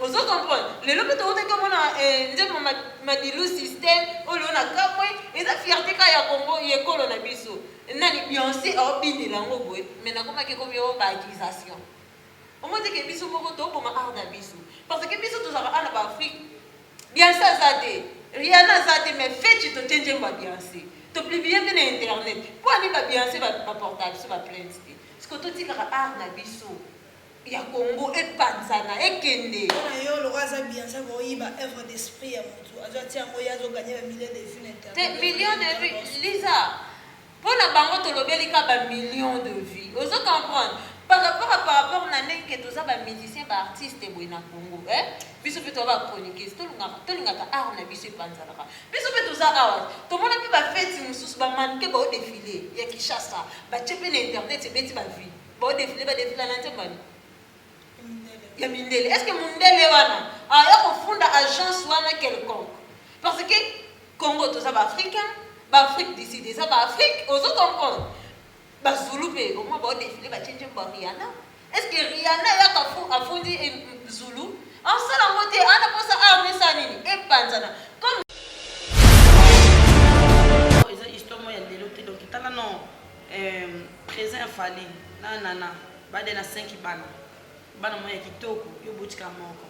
Ozo comprendre? Lelo pe towutaki komona eh nzembo ma Madilu system olo na kamue eza fierte kaka ya Congo ya ekolo na biso nani Beyonce azo binela yango boye mais nakomaki ekomi yo ba accusation omoni te ke biso moko tozo boma art na biso parce que biso tozalaka awa na ba Afrique Beyonce aza te Rihanna aza te mais feti totie nzembo ya Beyonce to publie pe na internet po ani ba Beyonce ba portaka biso ba plainte te sikoyo totikaka art na biso ya congo epanzana ekende. Pona yo lokola aza bianca ako yiba oeuvre d'esprit ya mutu azo atia yango ye azo gagne ba millions de vues na internet. Te millions de vues Liza pona bango tolobeli ka ba millions de vues ozo comprendre par rapport à par rapport na ndenge ke toza ba musiciens ba artistes boye na congo eh biso pe toza ba chroniqueuse tolingaka tolingaka art na biso epanzanaka biso pe toza awa tomona pe ba feti mususu ba mannequin bao defile ya Kinshasa batie pe na internet ebeti ba vues Bo defile ba defila na nzembo ani? Ya mindele. Est-ce que mundele wana aya kofunda agence wana quelconque? Parce que Congo toza ba Africain, ba Afrique du Sud eza ba Afrique, ozo comprendre? Ba Zulu pe au moins ba defile ba tie nzembo Rihanna. Est-ce que Rihanna ya kafu afundi eh, Zulu? En sala ngote ana posa arme sa nini? Epanzana. Comme Eeh present ya fally na nana ba de na cinq bana bana moyen ya kitoko yo oboti kaka moko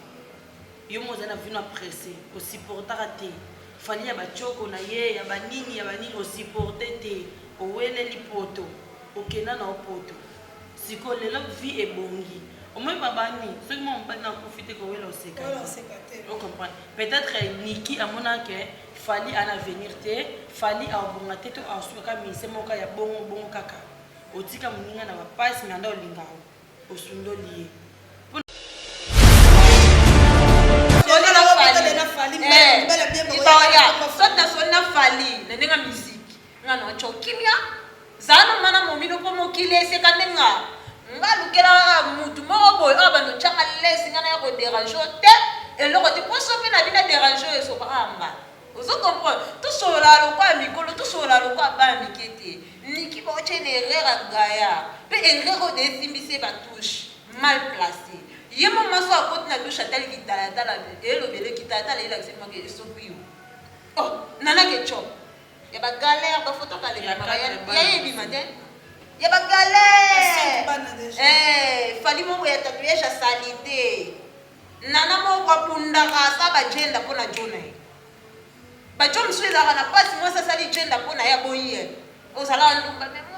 yo moko ozali na vino ya presse o supportaka te fally ya ba tshoko na ye ya ba nini ya ba nini o supporte te oweleli poto okenda na yo poto sikoyo lelo vie ebongi omoni ba bani soki mwana mobali na akufi te kowela oseka te o comprendre peut etre nicky amonaka ke Fally ana avenir te fally akobonga te to akosuka kaka musicien moko kaka ya bongo bongo kaka otika muninga na ba pasi mais anda olinga yango osundoli ye libaya soki nasoli na fally na ndenge ya musike Nga na co kimia zala na mana momino po mokili eseka nde nga nga lukela kaka mutu moko boye oyo bando tianga lezi nga naya ko derange yo te eloko te po sope na bina derange yo esopa kaka nga ozo comprendre tosolola lokola mikolo tosolola lokola bana mike te niki boko tia une erreur ya gaya pe erreur oyo de esimbi se ba touche mal place ye mo maso akoti na douche atali kitalatala elobele kitalatala elakisi mwa ke esopi yo oh nana ke chop Ya ba galère ba photo kala ebima ba ya ye ebima te ya ba galère eh fali moko ya tatouage ya salite nana moko abundaka asa ba jenda mpo na jona ye bajo mosusu ezalaka na mpasi mwasi asali jenda mpo na ye aboyi ye ozalaka ndumba memo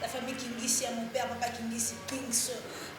La famille kingisi ya mon père papa kingisi kings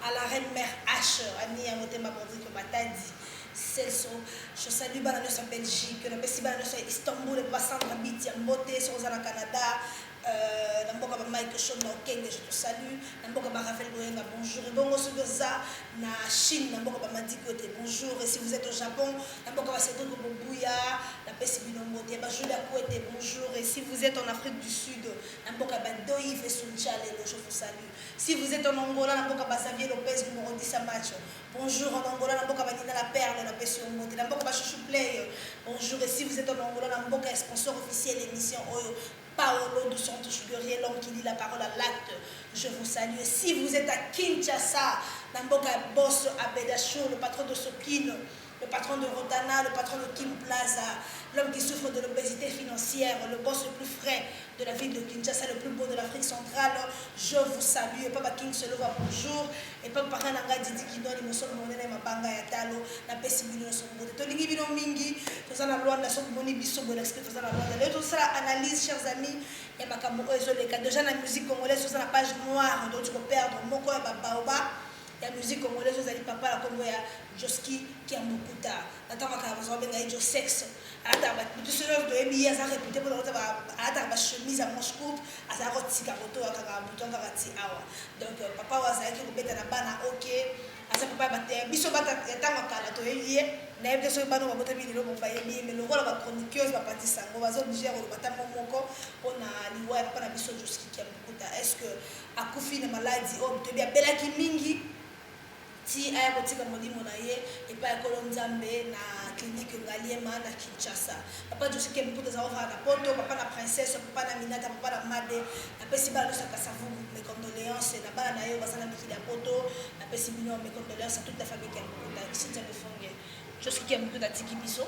à la reine mère h ami ya motema bondriko matadi selso je salue bana nyonso ya belgique napesi bana nyonso ya istanbul epa basandra biti ya mbote soki oza na canada euh, na mboka ba mike shon na okenge je te salue na mboka ba ravel boyenga bonjour ebongo soki oza na chine na mboka ba madiko ete bonjour et si vous êtes au japon na mboka ba cedric bobuya napesi bino mbote ba julia kuete bonjour et si vous êtes en afrique du sud na mboka Bendo Yves Suncha lelo je vous salut si vous etes en Angola na mboka ba Xavier Lopez Kumorotisa Macho bonjour en Angola na mboka Baninga la Perle na pesi yo mbote na mboka ba Chouchou Play bonjour et si vous etes en Angola na mboka ya sponsor officiel emission oyo Paolo dos Santos Guerrier l'homme qui lit la parole à l'acte je vous salue et si vous êtes à Kinshasa na mboka ya Bosso Abeda Show le patron de Sopino Le patron de Rotana, le patron de Kin Plaza, l'homme qui souffre de l'obesite financière, le boss le plus frais de la ville de Kinshasa, le plus beau de l'Afrique centrale, je vous salue. Et papa King Selova, bonjour. Et papa Pakananga Didi Kidoni, Mosolo Monene, Mabanga ya Talo, na pesi bino na sombote. Tolingi bino mingi, toza na Luanda, soki moni biso bola sike toza na Luanda. Leo tosala analyse, chers amis, ya makambo oyo ezoleka. Déjà na musique congolaise, toza na page noire, donc tu peux perdre moko ya ba baoba. ya musique congolaise oyo ezali papa na kombo ya Josky Kiambukuta na tango akala baza kobenga ye Josex alataka ba bitu soki oyo toyebi ye aza repute mpona kota ba alataka ba chemise ya manche courte azala kotika kotoa kaka bouton kaka ti awa donc papa oyo azalaki kobeta na bana ok aza papa ya ba- ya biso bata ya tango ya kala toyebi ye nayebi te soki bana oyo babotami lelo bo bayebi ye mais lokola ba chroniqueuse bapati sango baza oblige ya koloba tango moko mpona liwa ya papa na biso Josky Kiambukuta est ce que Akufi na maladi oyo toyebi, abelaki mingi ti aya kotika molimo na ye epai ya Nkolo Nzambe na clinique Ngaliema na Kinshasa. Papa Josue Kemputa aza kovanda na Poto, papa na Princesse, papa na Aminata, papa na Made. Napesi bana nyonso ya Kasavubu mes condoleances na bana na ye baza na mikili ya poto. Napesi bino mes condoleances à toute la famille Kemputa. Cynthia Lufunge. Josky Kemputa atiki biso.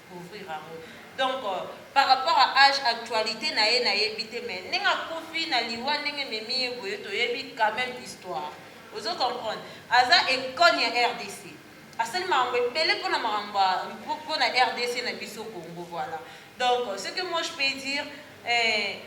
couvrir yango donc par rapport à age actualite na ye na yebi te mais ndenge akufi na liwa ndenge ememi ye boye to yebi quand meme histoire ozo comprendre aza econe ya rdc asali makambo ebele pona makambo pona rdc na biso Congo voilà donc ce que moi je peux dire eh,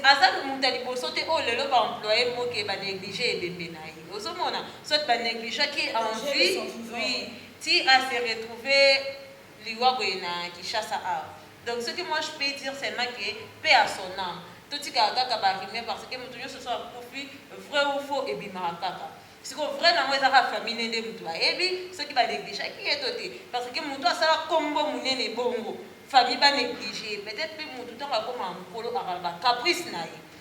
aza moto ya liboso te oyo lelo baemploye moke banéglige ebembe na ye ozomona soit banégligeaki envie oui ti a se retrouve liwa boye na Kinshasa awa donc ce que moi je peux dire seulement que paix à son ame totikaka kaka ba rumeur parce que mutu nionso soki akufi vrai ou faux ebimaka kaka sikoyo vrai nango eza kaka famille ne nde mutu bayebi soki ba negligeaki ye to te parce que mutu asala kombo munene bongo famille ba negliger ye peut-etre pe mutu tango akomaka mukolo akozala ba caprice na ye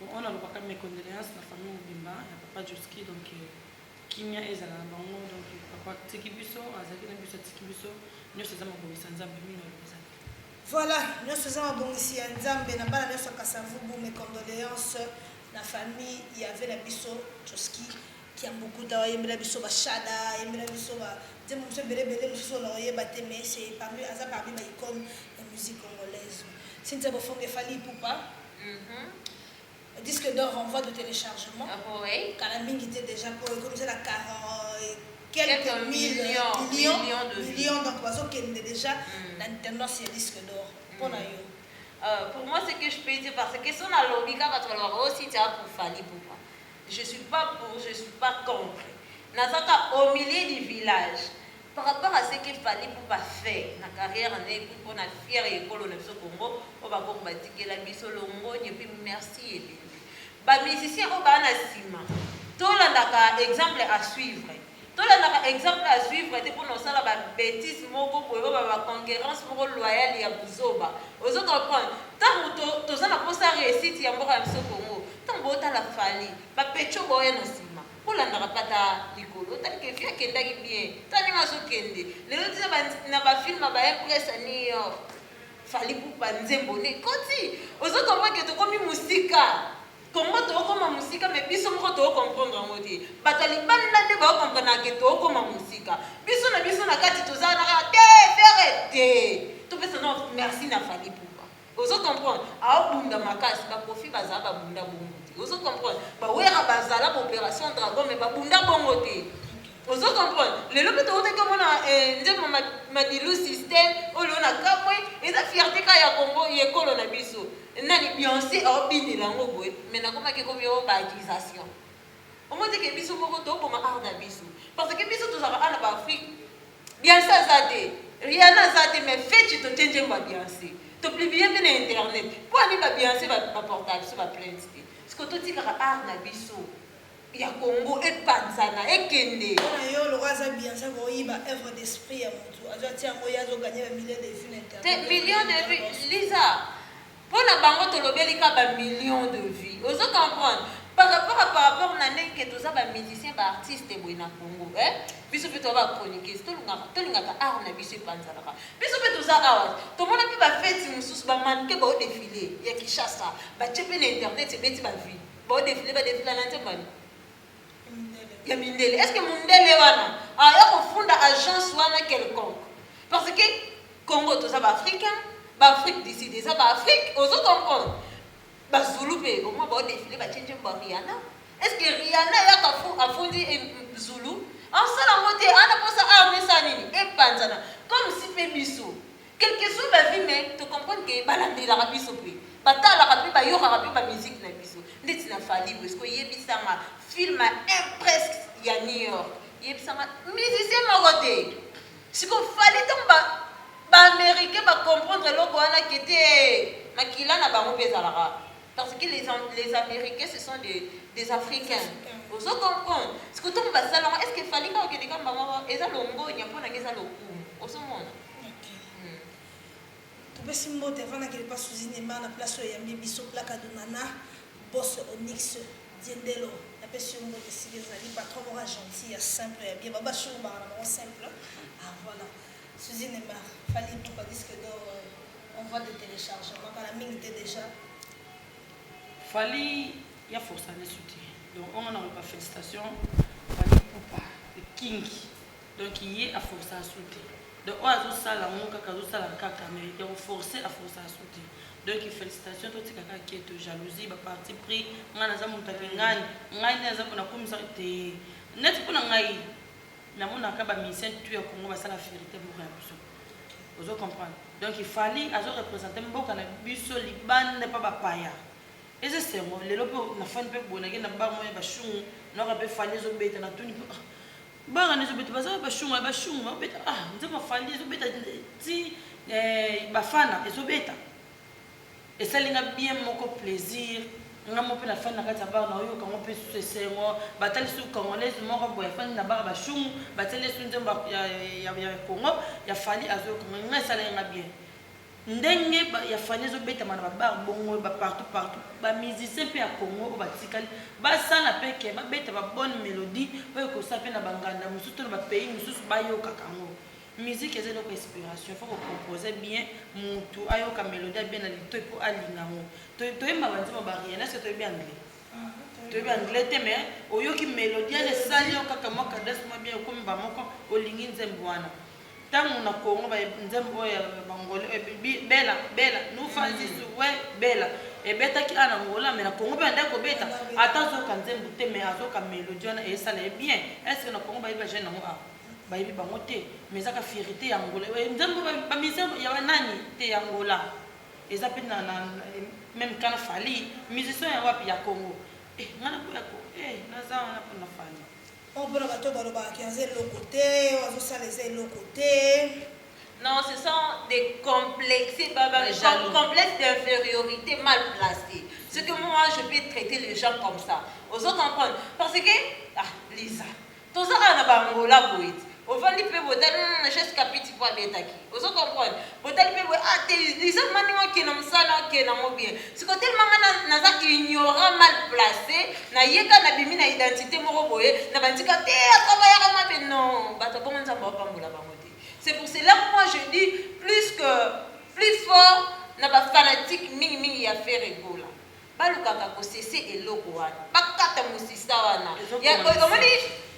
Bon oyo nalobaka mes condoleances na famille mobimba ya papa Josky donc kimia ezala na bango donc papa atiki biso azalaki na biso atiki biso nionso eza mabongisi ya Nzambe mimi naloba eza te. Voilà nionso eza mabongisi ya Nzambe na bana nionso ya Kasa Vubu mes condoleances na famille ya ve na biso Josky. Kiambukuta oyembela biso ba shada yembela biso ba nzembo mosusu ebele ebele mosusu oyo nakoyeba te mais c'est parmi aza parmi ba icone ya musique congolaise Cynthia Bofonge Fally Ipupa disque d'or en voie de telechargement kala mingi te dejà po ekomisa na 40 quelques mille millions millions donc bazokende dejà na tendance ya disque d'or mpo na yo Euh, pour moi, ce que je peux dire, parce que si on a l'ONU, quand on a aussi, tu as pour Fali Poupa. Je suis pas pour je suis pas contre naza kaka au milieu du village par rapport à ce que Fally Ipupa fait na carrière na ye puis pona fière ya ekolo na biso Congo oyo ba koko ba tikela biso longonya puis merci ebele ba musiciens oyo baa na sima to landaka exemple à suivre. Tolandaka exemple à suivre te pona osala ba betises moko boye oyo ba conquerance moko loyale ya buzoba ozo comprendre tangu to toza na posa reussite ya mboka na biso Congo tangu bo tala Fally ba pecho ba oya na sima bo landaka pe ata likolo otali ke vie akendaki bien tala ndenge azo kende lelo ti na ba na ba film ba impress ya New York Fally Ipupa nzembo nde ekoti ozo comprendre ke tokomi musika Congo tokokoma mosika mais biso moko toko comprendre yango te bato ya libanda nde bao comprendre ke tokokoma mosika biso na biso na kati toza na te fere te topesa na merci na fali pupa ozo comprendre aobunda makasi bakofi bazala babunda bongo te ozo comprendre bawera bazala baopération dragon mais babunda bongo te Ozo comprendre? Lelo pe towutaki komona eh, nzembo ma, Madilu system, oloo na kamue, eza fierte kaka ya Congo, ya ekolo na biso. Nani Beyonce azo binela yango boye, mais nakomaki ekomi oh ba accusation. Omoni te ke biso moko tozo boma art na biso. Parce que biso tozalaka awa na ba Afrique, Beyonce aza te, Rihanna aza te, mais feti totie nzembo ya Beyonce. To publier pe na internet. Pona nini ba Beyonce ba, ba portaka biso ba plainte te? Sikoyo totikaka art na biso. ya congo epanzana ekende. Pona yo lokola aza beyance ako yiba oeuvre d'esprit ya mutu azo atia yango ye azo gagne ba millions de vues na internet. Te millions de vues Liza pona bango tolobeli ka ba millions de vues ozo comprendre par rapport à par rapport na ndenge ke toza ba musiciens ba artistes boye na congo eh biso pe toza ba chroniqueuse tolingaka tolingaka art na biso epanzanaka biso pe toza awa tomona pe ba feti mususu ba mannequin bao defile ya Kinshasa batie pe na internet ebeti ba vues Bo defile ba defila na nzembo ani? Ya mindele. Est-ce que mundele wana aya kofunda agence wana quelconque? Parce que Congo toza ba Africain, ba Afrique du Sud eza ba Afrique, ozo comprendre? Ba Zulu pe au moins ba defile ba tie nzembo Rihanna. Est-ce que Rihanna ya kafu afundi Zulu? Asala ngo te, ana posa armée sa nini? Epanzana. Comme si pe biso Quelques ont la vie mais to comprendre que ba landelaka biso pe ba talaka pe ba yokaka pe ba musique na biso ndeti na Fally boye sikoyo yebisa nga film impresque ya New York yebisa nga musicien moko te sikoyo Fally tango ba ba américain ba comprendre eloko wana ke te makila na bango pe ezalaka parce que les, les américains ce sont des, des africains ozo comprendre sikoyo tango basala ngo est ce que Fally kaka okende kamba ngo eza longonya mpo na nga eza lokumu ozo mona Topesi mbote avant na kende pa Suzi Nema na place oyo eyambi biso Plaka Dunana Boss Onyx Diendelo na pesi yo mbote esika ezali patron moko ya gentil ya simple ya bien ba bashi oyo bangana bango simple ah voilà Suzi Nema Fally Ipupa disque d'or euh, on voit de téléchargement kala mingi te déjà Fally ya force ane suti donc on a ba félicitations Fally Ipupa the king Donc ye a force asu te donc oyo azo sala ngo kaka azo sala kaka mais ya ko force a force asu te donc felicitation to tika kaka keto jalousie ba parti pris nga naza mutu ya kingani ngai nde naza pona komisa te neti pona ngai namonaka ba musicien tu ya Congo basala fierté moko ya biso ozo comprendre donc ifali azo represente mboka na biso libanda mpa bapaya eza esengo lelo mpe nafani mpe boye nakei na bar moya bashungu naoka mpe fali ezobeta natuni mpe ah, Banganda ezo beta baza ba shunga ba shunga ba beta ah nzambe afandi ezo beta ti eh, bafana ezo beta esali nga bien moko plaisir nga mo mpe nafandi na kati ya bar na oyoka ngo mpe susu esengo batali susu congolaise moko boye afandi na bar bashungu batali esu nzembo ya, ya, ya, ya congo ya fali azoyoka nga esalaki nga bien Ndenge ya Fally ezo betama na ba bar bongo ba partout partout ba musiciens pe ya Congo oyo batikali basala pe que babeta ba bonne melodie oyo ekosala pe na ba nganda mususu to na ba pays mususu bayokaka yango. Musique eza eloko ya inspiration faut ko composer bien mutu ayoka melodie ya bien na litoyi po alinga yango. Toyemba ba nzembo ya ba Rihanna est ce que toyebi anglais? Toyebi anglais te mais oyoki melodie wana esali yo kaka mua cadence mua bien okomi mbamoko olingi nzembo wana. Tango na Congo ba nzembo oyo ya ba ngolais oyo ebebi bela bela nufa zizu we bela ebetaki awa na Angola mais na Congo pe bandaki kobeta ata azoyoka nzembo te mais azoyoka melodie wana esala ye bien est ce que na Congo bayebi ba jeune yango awa bayebi bango te mais eza ka fierite ya Angola oyo nzembo ba ba musiciens ya ba nani te ya Angola eza pe na na meme kana Fally musiciens ya wapi ya Congo eh nga naboya ko eh naza wana pona Fally Oyo pona batu oyo balobaka ke aza eloko te, oyo azo sala eza eloko te. Non ce sont des complexes ba ba jaloux complexe d'inferiorite mal place ce que moi je peux traiter les gens comme ça ozo comprendre parce que ah Lisa toza kaka na ba Angola boye ovandi pe boye tala na geste Kapiti po abetaki Ozo comprendre? Botali pe boye ah te Lisa vraiment ndenge oke na musala oke na ngo bien. Sikoyo tellement nga na naza ignorant mal place na ye ka na bimi na identite moko boye na bandi ka te a travaillaka mabe non batu ya bongo Nzambe ao pambola bango te. C'est pour cela moi je dis plus que plus fort na ba fanatique mingi mingi ya Ferre Gola. Balukaka ko cesser eloko wana. Bakata musisa wana. Ya oyo omoni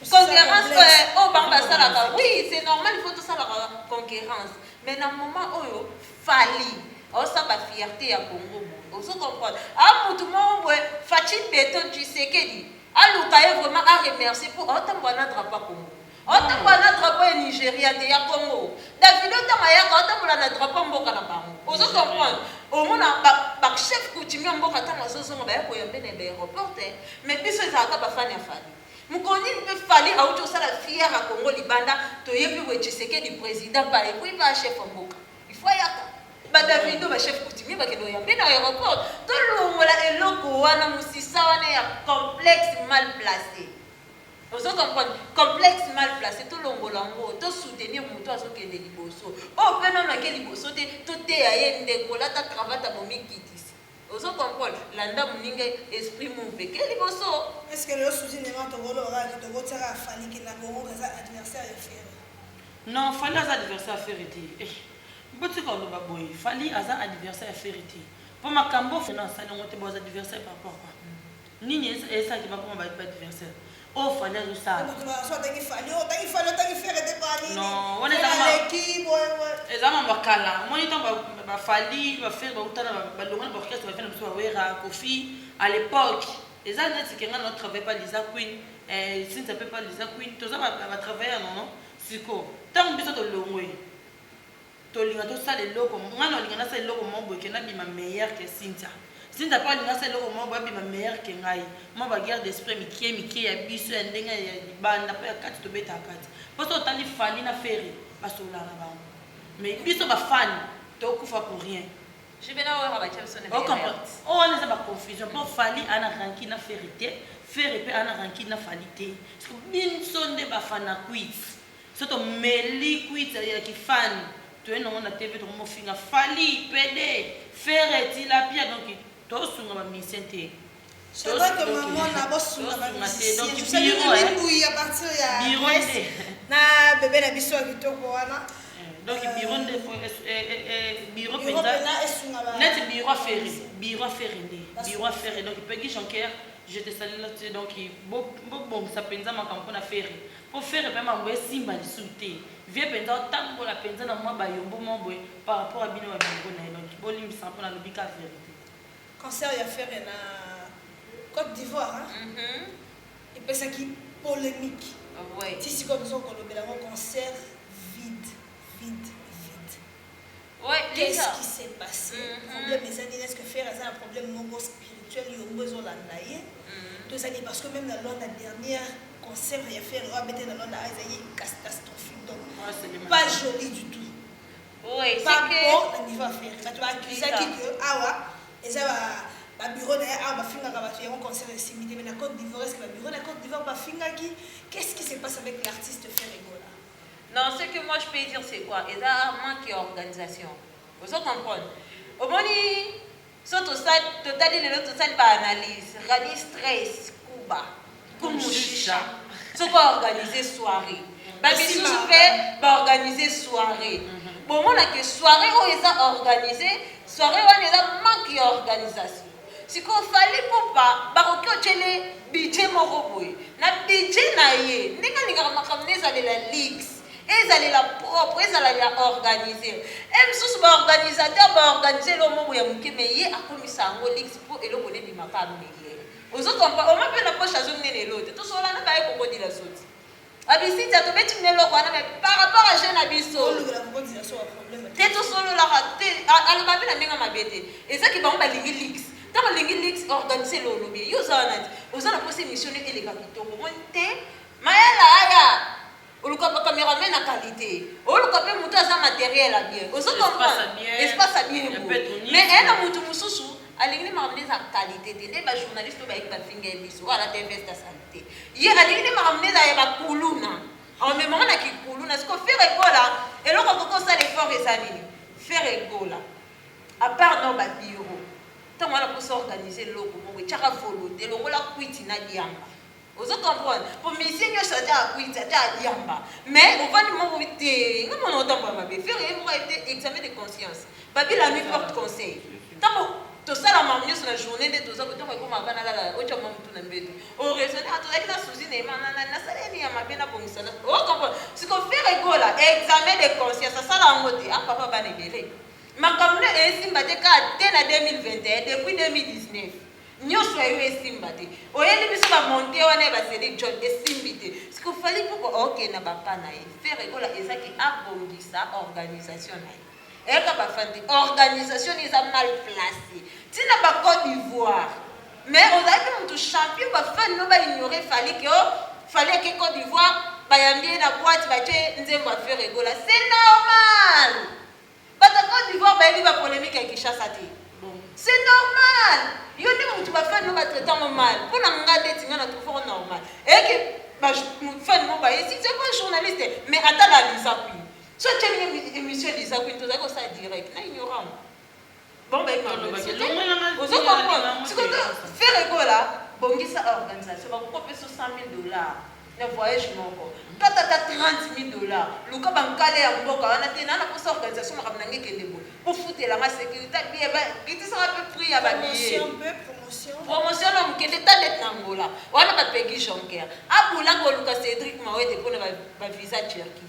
concurrence oyo eh, oyo bango basalaka. Oui, c'est normal il faut tosalaka concurrence. Mais na moment oyo Fally aosa ba fierte ya Congo boye. Ozo comprendre? A mutu moko boye Fatshi Beton Tshisekedi aluka ye vraiment a remercier po aotambua na drapeau ya Congo. Otambola n'a drapeau ya Nigeria te ya Congo. Davido tango ayaka atambola n'a drapeau ya mboka na bango. Ozo comprendre? Omona ba, ba chef coutumier ya mboka tango azozonga baya koyambe na aéroport te, mais biso ezalaka ba fan ya Fally. Mokolo nini mpe Fally awuti kosala fière ya Congo libanda toyebi boye Tshisekedi president pa ye, puis pa chef ya mboka. Il faut ayaka. Ba Davido ba chef coutumier bakende koyambe na aéroport. Tolongola eloko wana, musisa wana ya complexe mal place. Ozo comprendre? Complexe mal place to longola ngo to soutenir mutu azo kende liboso. Oyo pe nanu ake liboso te to teya ye ndeko lata cravate ya bomi kitisi. Ozo comprendre? Landa muninga esprit move eke liboso. Est-ce que lelo Souzy N'Aimant toko loba kaka ke toko tia kaka Fally ke na Congo ke aza adversaire ya Ferre? Non Fally aza adversaire ya Ferre te eh botika koloba boye Fally aza adversaire ya Ferre te po makambo Ferre asali yango te bo adversaire par rapport à quoi? Nini esala ke bakoma ba adversaire oyo fally azo sala mutu na so atangi fally oyo tangi fally otangi ferre te pa nini non wana eza ma leki boye boye eza ma bakala moni tango ba ba fally ba ferre ba utana ba longa na orchestre ba fana biso ba wera kofi à l'époque eza neti ke nga na travailler pa lisa queen eh sinza pe pa lisa queen toza ba ba travailleur non non siko tango biso tolongwe Tolinga tosala eloko nga na olinga nasala eloko moko boye ke nabima meilleur ke Cynthia Cynthia pe alinga asala eloko moko boye abima meilleur ke ngai mua ba guerre d'esprit ya mikie mikie ya biso ya ndenge ya libanda pe ya kati tobetaka kati po soki otali Fally na Ferre basololaka na bango mais biso ba fan tokufa pour rien o comprend oyo wana eza ba confusion po Fally aza na rancune na Ferre te Ferre pe aza na rancune na Fally te biso nde ba fanakuiti Soki to meli kwiti ya ki fan toye nango na TV toko mo finga fally pede ferre tilapia donc to sunga ba musicien te to sunga te donc biro eh biro nde na bebe na biso ya kitoko wana eh, donc euh, biro nde biro penza net biro ferre biro ferre nde biro ferre donc pegi jonker je te salue là donc bo bo bon ça penza makambo na ferre Po ferre pe mambo esimba lisusu te vieux penza otambola penza na mwa ba yombo moko boye par rapport ya bino ba bilobos naye donc bolimbisa nga po nalobi kaka verite. Concert ya Ferre na Cote d'Ivoire epesaki polemique ti sikoyo toza kolobela yango concert vide vide vide. Qu'est ce qui s'est passe? Problème eza nini? Est ce que Ferre aza na problème moko spirituel yongo ezo landa ye? To eza nini? Parce que meme na Luanda dernière concert ya Ferre oyo abetaki na Luanda ah ezalaki castastrophique donc pas jolie du tout. Pas beau na niveau ya Ferre. Batu ba accusaki que awa eza ba ba bureau na ye awa ba fingaka batu yango concert esimbi te mais na cote d'Ivoire est ce que ba bureau na cote d'Ivoire ba fingaki? Qu'est ce qui se passe avec l'artiste Ferre Gola? Non ce que moi je peux dire c'est quoi eza manque ya organisation ozo comprendre omoni so tosali totali lelo tosali ba analyse rani stress kuba kumushisha soki ba organiser soirée ba misusu pe ba organiser soirée mhm. bomona ke soirée oyo eza organiser soirée wana eza manque ya organisation Sikoyo Fally Ipupa bakoki otiele budget moko boye na budget na ye ndenge alingaka makambo na ezalela leaks ezalela propre ezalela organise e mosusu ba organisateur ba organise eloko moko ya moke me ye akomisa yango leaks mpo eloko ne bimaka mele ozo kompa oma mpe na poche azo nene elote tosolana baye kokodila zoti Babisita tobeti muna eloko wana mais par rapport à jeu na biso te tosololaka te aloba mpe na ndenge mabe te ezaki bango balingi lix ntango olingi lix organise lo olobi yo oza wana te oza na mposa émission nde eleka kitoko moni te mayala aya oluka bacameraman na qualité oluka mpe moto aza matériel ya bien ozo comprendre espace ya bien mais ena motu mosusu Alingi nde makambo eza qualité te nde ba journaliste oyo bayebi bafinga ye miso oyo alata veste ya salite ye alingi nde makambo nde eza ya bakuluna amemama na kikuluna siko fere egola eloko akoki kosala effort eza nini fere egola apart no babiro ntango wana mposa organise eloko moko etyaka volonte longola kwiti na diamba Ozo comprendre? Po musicien nioso aza a kwiti ata a diamba mais ovandi moko boye te nga mona otambola mabe ferre ye moko ayebi te examen de conscience babi la nuit porte conseil tango tosala mamu nioso na journee nde toza boye tango ekoma ava nalala otia mua mutu na mbetu o raisonne ah tozalaki na souci na ema nana nasala ye nini ya mabe na bongisa na ozo comprendre? Siko ferre gola examen de conscience asala yango te ah papa bana ebele makambo na esimba te kaka te na 2021 depuis 2019 Nioso ya yo esimba te. Oyeli biso ba monte wana ya ba Cedric John esimbi te. Siko Fally Ipupa ok na ba pas na ye. Ferre Gola eza ke abongisa organisation na ye. Eyaka ba fandi organisation na ye eza mal place. Ti na ba Cote d'Ivoire. Mais ozalaki mutu champion ba fans no ba ignorer Fally ke oh Fally ake Cote d'Ivoire bayambi ye na boite batie nzembo ya Ferre Gola. C'est normal. Bato ya cote d'ivoire bayebi ba polemique ya Kinshasa te. C'est normal! Yo nde mutu ba fan no ba traite yango mal. Po na nga ndeti nga na trouve yango normal. Et que ba fan no baye si c'est pas journaliste mais ata ba Liza Queen. So otieli ye emission Liza Queen tozali kosala direct na ignorant. Bomba eko alobaki elongo na nga. Ozo comprendre? Sikoyo Ferre Gola bongisa organisation bakokopeso 100.000 dollars na voyage moko. Kata ata 30.000 dollars. Luka ba nkale ya mboka wana te naza na posa organisation makambo na nga ekende boye. Bofutela nga securite bien ba kitisa nga pe prix ya ba billets. Promotion pe promotion. Promotion na muke te tala neti na Angola. Wana ba Peggy Jonker. Abula koluka Cedric Mawete pona ba visa Turquie.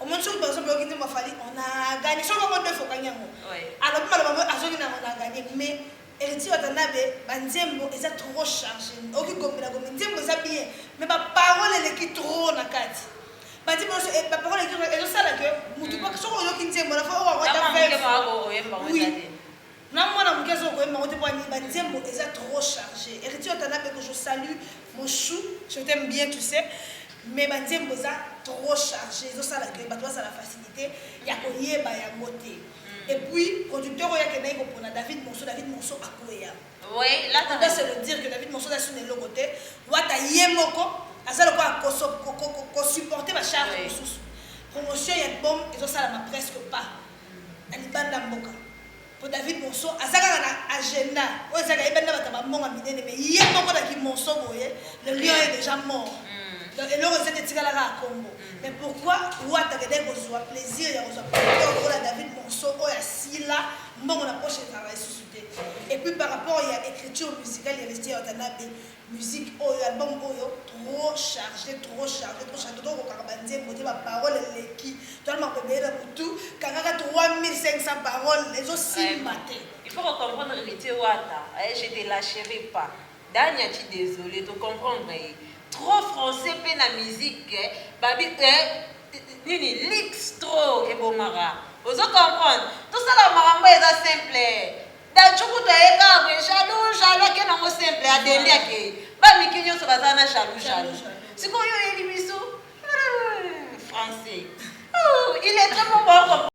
omoni soki bazo boyoki nzembo ya fali on a gagné soki moko deux fokangi yango alobi maloba moyo azongi na on a gagné mais héritier watanabe banzembo eza trop chargé oki gomela gomela nzembo eza bien mais baparole eleki trop na kati bati bonso eh, baparole eleki trop ezosala ke motu mm. soki oyoki nzembo na fo owaoyemba oui Na mwana muke azo koyemba ngo te pona nini ba nzembo eza trop charge heritier watanabe que je salut mon chou je t'aime bien tu sais mais ba nzembo eza trop charge ezo sala que bato bazala facilite ya koyeba yango te et puis producteur oyo akendaki kopona David Monso David Monso akweya Oui, là, on doit se le dire que David Monso aza suna eloko te wata ye moko aza lokola kosupporte bacharge mosusu promotion ya album ezosalama presque pas na libanda ya mboka po David monso aza kaka na agenda oyo eza kayebani na batu ya ba mbongo minene mais ye moko na ki monso boye le lion est dejà mort donc eloko eza te etikala kaka kombo mais pourquoi wata akendaki kozua plaisir ya kozua producteur lokola David monso oyo asila mbongo na poche ezalaka lisusu te et puis par rapport ya ecriture musicale ya vestiaire watanabe Music oyo album oyo trop charge trop charge trop charge to kokaka ba nzembo te ba parole eleki to na makobe ebele na butu kangaka 3500 parole ezo simba te il faut ko comprendre héritier wata eh, je te lâcherai pas dania ci désolé to comprendre ye trop français pe na musique eh, babi eh, nini lix trop ebomaka ozo comprendre tosala makambo eza simple Datshukutu aye kaka boye jaloux jaloux ake nango simple adendi akeyi ba mike nionso baza na jaloux jaloux sikoyo oyeli biso français il est très bon